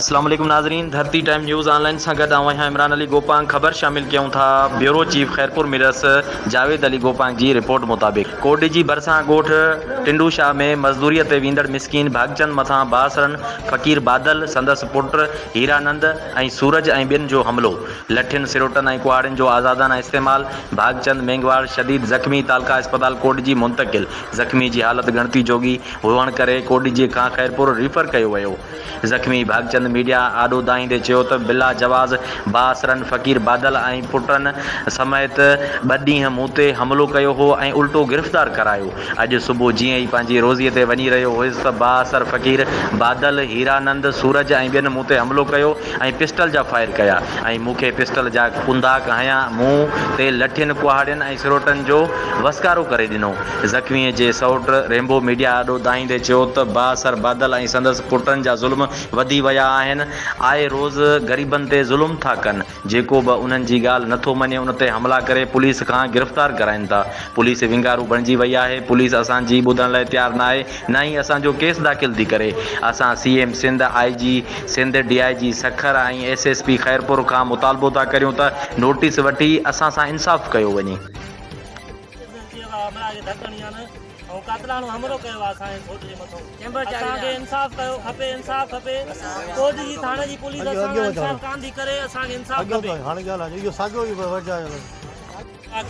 اسلام عليڪم ناظرين Dharti time news online سان گڏ آئون آهيان عمران علي گوپانگ خبر شامل ڪيون ٿا بيورو چيف خيرپور ميرس جاويد علي گوپانگ جي رپورٽ مطابق ڪوٽ جي ڀرسان ڳوٺ ٽنڊو شاهه ۾ مزدوري تي ويندڙ مسڪين ڀاڳچند مٿان بااثرن فقير بادل سندس پٽ هيرانند ۽ سورج ۽ ٻين جو حملو لٺين، سروٽن ۽ ڪهاڙين جو آزادانه استعمال، ڀاڳچند مينگهواڙ شديد زخمي تعلقه اسپتال ڪوڏجي منتقل، زخمي جي حالت ڳڻتي جوڳي هئڻ ڪري ڪوڏجي کان خيرپور ريفر ڪيو ويو، زخمي ڀاڳچند ميڊيا آڏو دانهيندي چيو ته بلا جواز بااثرن فقير بادل ۽ پٽن سميت ٻه ڏينهن مون تي حملو ڪيو هو ۽ الٽو گرفتار ڪرايو، اڄ صبح جيئن ئي پنهنجي روزي تي وڃي رهيو هيس ته بااثر فقير بادل، هيرانند، سورج ۽ ٻين مون تي حملو ڪيو. ۽ پسٽل جا فائر ڪيا ۽ مون کي پسٽل جا ڪنداڪ هنيا، مون تي لٺين، ڪهاڙين ۽ سروٽن جو وسڪارو ڪري ڏنو. زخميء جي سئوٽ ريمبو ميڊيا آڏو دانهيندي چيو ته با اثر بادل ۽ سندس پٽن جا ظلم وڌي ويا آهن، آء روز غريبن تي ظلم ٿا ڪن، جيڪو به انهن جي ڳالهه نه ٿو مڃي ان تي حملا ڪري پوليس کان گرفتار ڪرائين ٿا، پوليس ونگارو بڻجي وئي آهي، پوليس اسان جي ٻڌڻ لاء تيار ناهي، نه ئي اسان جو ڪيس داخل ٿي ڪري، اسان C M Sindh, I G Sindh, D I G Sukkur ۽ S S P Khairpur کان مطالبو ٿا ڪريون ته نوٽيس وٺي اسان سان انصاف ڪيو وڃي.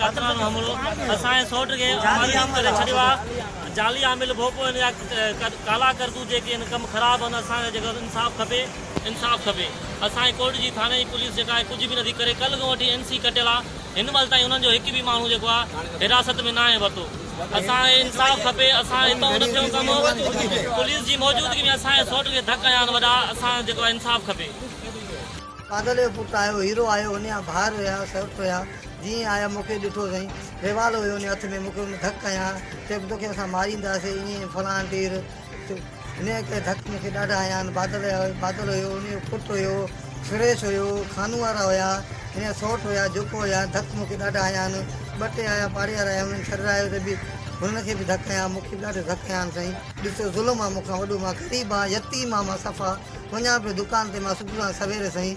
قتلن جو حملو اسان جي سوٽ کي مايوس ڪري ڇڏيو آ جعلي عامل ڀوپو ان جا ڪالا ڪرتوت جيڪي ان ڪم خراب ان اسان کي جيڪو انصاف کپي انصاف کپي اسان جي ڪوٽ جي ٿاڻي جي پوليس جيڪا آهي ڪجهه به نٿي ڪري ڪل کان وٺي اين سي ڪٽيل آ هن مهل تائين انهن جو هڪ به ماڻهو جيڪو آ حراست ۾ ناهي ورتو اسان کي انصاف کپي اسان هتو نه ٿيو ڪم پوليس جي موجودگي ۾ اسان جي سوٽ کي ڌڪ هنيا آهن وڏا اسان جيڪو آ انصاف کپي. بادل جو پٽ آيو، هيرو آيو، ان جا ڀائر هيا، سرت هيا، جيئن ئي آيا مون کي ڏٺو سائين، ريوالو هيو ان جي هٿ ۾، مون کي ان ڌڪ هنيا، چيو توکي اسان مارينداسين ائين فلاڻ ٽير، هن جي ڪري ڌڪ مون کي ڏاڍا هنيا آهن، بادل هيا، بادل هيو، ان جو پٽ هيو، سريش هيو، خانو وارا هيا، هن جا سئوٽ هيا، جوکو هيا، ڌڪ مون کي ڏاڍا هنيا آهن، ٻه ٽي آيا پاڙي وارا هيا انهن ڇڏرايو ته به هنن کي به ڌڪ هنيا، مون کي به ڏاڍا ڌڪ هنيا آهن سائين. ڏسو ظلم آ مون کان وڏو، مان غريب آهيان، يتيم آهيان مان صفا، وڃان پيو دڪان تي مان صبح سان سوير سائين.